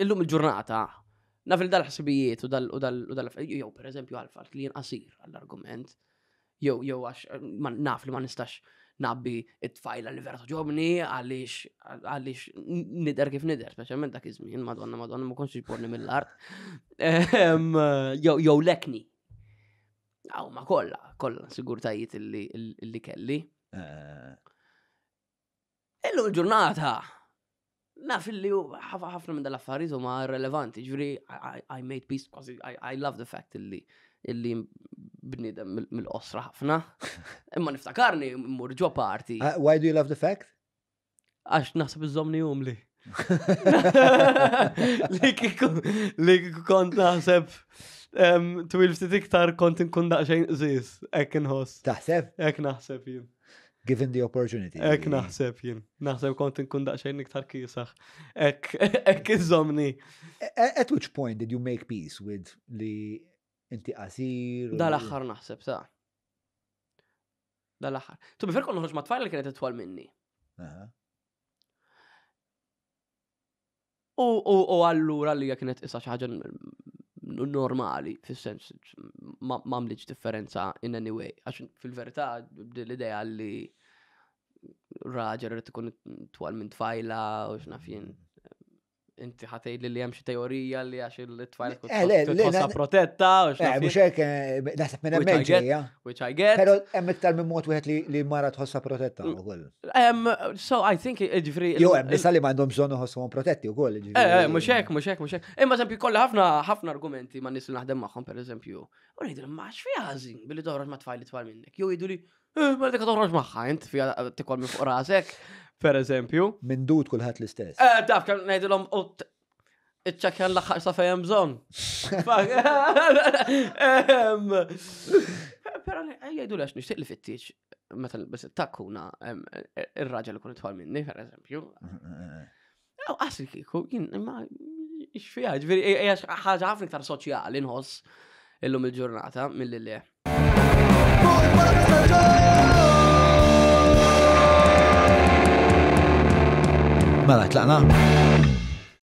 illum il-ġurnata, naf il dal-ħsibijiet u dal-affarijiet, jew per eżempju għal-fat li jinqasir għall-argument, jew jew għax naf li ma nistax nabbi it-tfajla li vera toġobni għaliex għaliex nider kif nider, speċjalment dak iż-żmien, madonna madonna ma konx iġborni mill-art. Ehm, jew lekni. Aw ma kollha, kollha sigurtajiet li kelli. Eh. Illum il-ġurnata, naf li ħafna minn dal-affarijiet huma relevanti, ġviri, I made peace, I love the fact li illi bnidem mill-qosra ħafna. Imma niftakarni mmur ġo parti. Uh, why do you love the fact? Għax naħseb iżomni umli. Li kiku, li kiku kont naħseb twil ftit iktar kont nkun daqxejn ziz, ek nħoss. Taħseb? Ek naħseb jien. Given the opportunity. Ek naħseb jien. Naħseb kont nkun daqsxejn iktar kisaħ. Ek, ek iżomni. At which point did you make peace with li inti qasir? Dal aħħar naħseb sa. Dal aħħar. Tu bifer kont noħroġ ma' tfajl li kienet itwal minni. U allura li kienet tqisha xi ħaġa normali, fis-sens ma għamlitx differenza in any way. Għax fil-verità l-idea li raġel rrit ikun twal minn tfajla u x'nafjien. Inti ħatej li li hemm xi teorija li għax il-tfajla tkun eh, tħossha protetta u eh, x'nafjien. Mhux hekk eh, naħseb minn hemm ġejja. Which I get. Però hemm iktar minn mod wieħed li mara tħossha protetta mm. ukoll. Um, so I think ġifri. Jo, hemm nisa li m'għandhom bżonn iħossuhom protetti wkoll. Eh, eh, mhux hekk, mhux hekk, mhux hekk. Imma eżempju kollha ħafna ħafna argumenti ma' nies li naħdem magħhom pereżempju. U ngħidilhom ma x'fi ħażin billi toħroġ ma' tfajli tfal minnek. Jew jgħidu li eh, ma dik toħroġ magħha int fiha tikol minn fuq rasek, pereżempju. Minn dud kulħadd l-istess. Eh, daf kan ngħidilhom iċċakjan l-axħar sa fejem bżon. Pero jgħidu l-għax nishtiq li fittiċ, meta nilbes it-takkuna, ir-raġel ikun itħol minni, per eżempju. Għaw għasri kiku, jien, ma, xfija, ġviri, ħagħa ħafna iktar soċjali nħoss illum il-ġurnata mill-li le. Mela, tlaqna?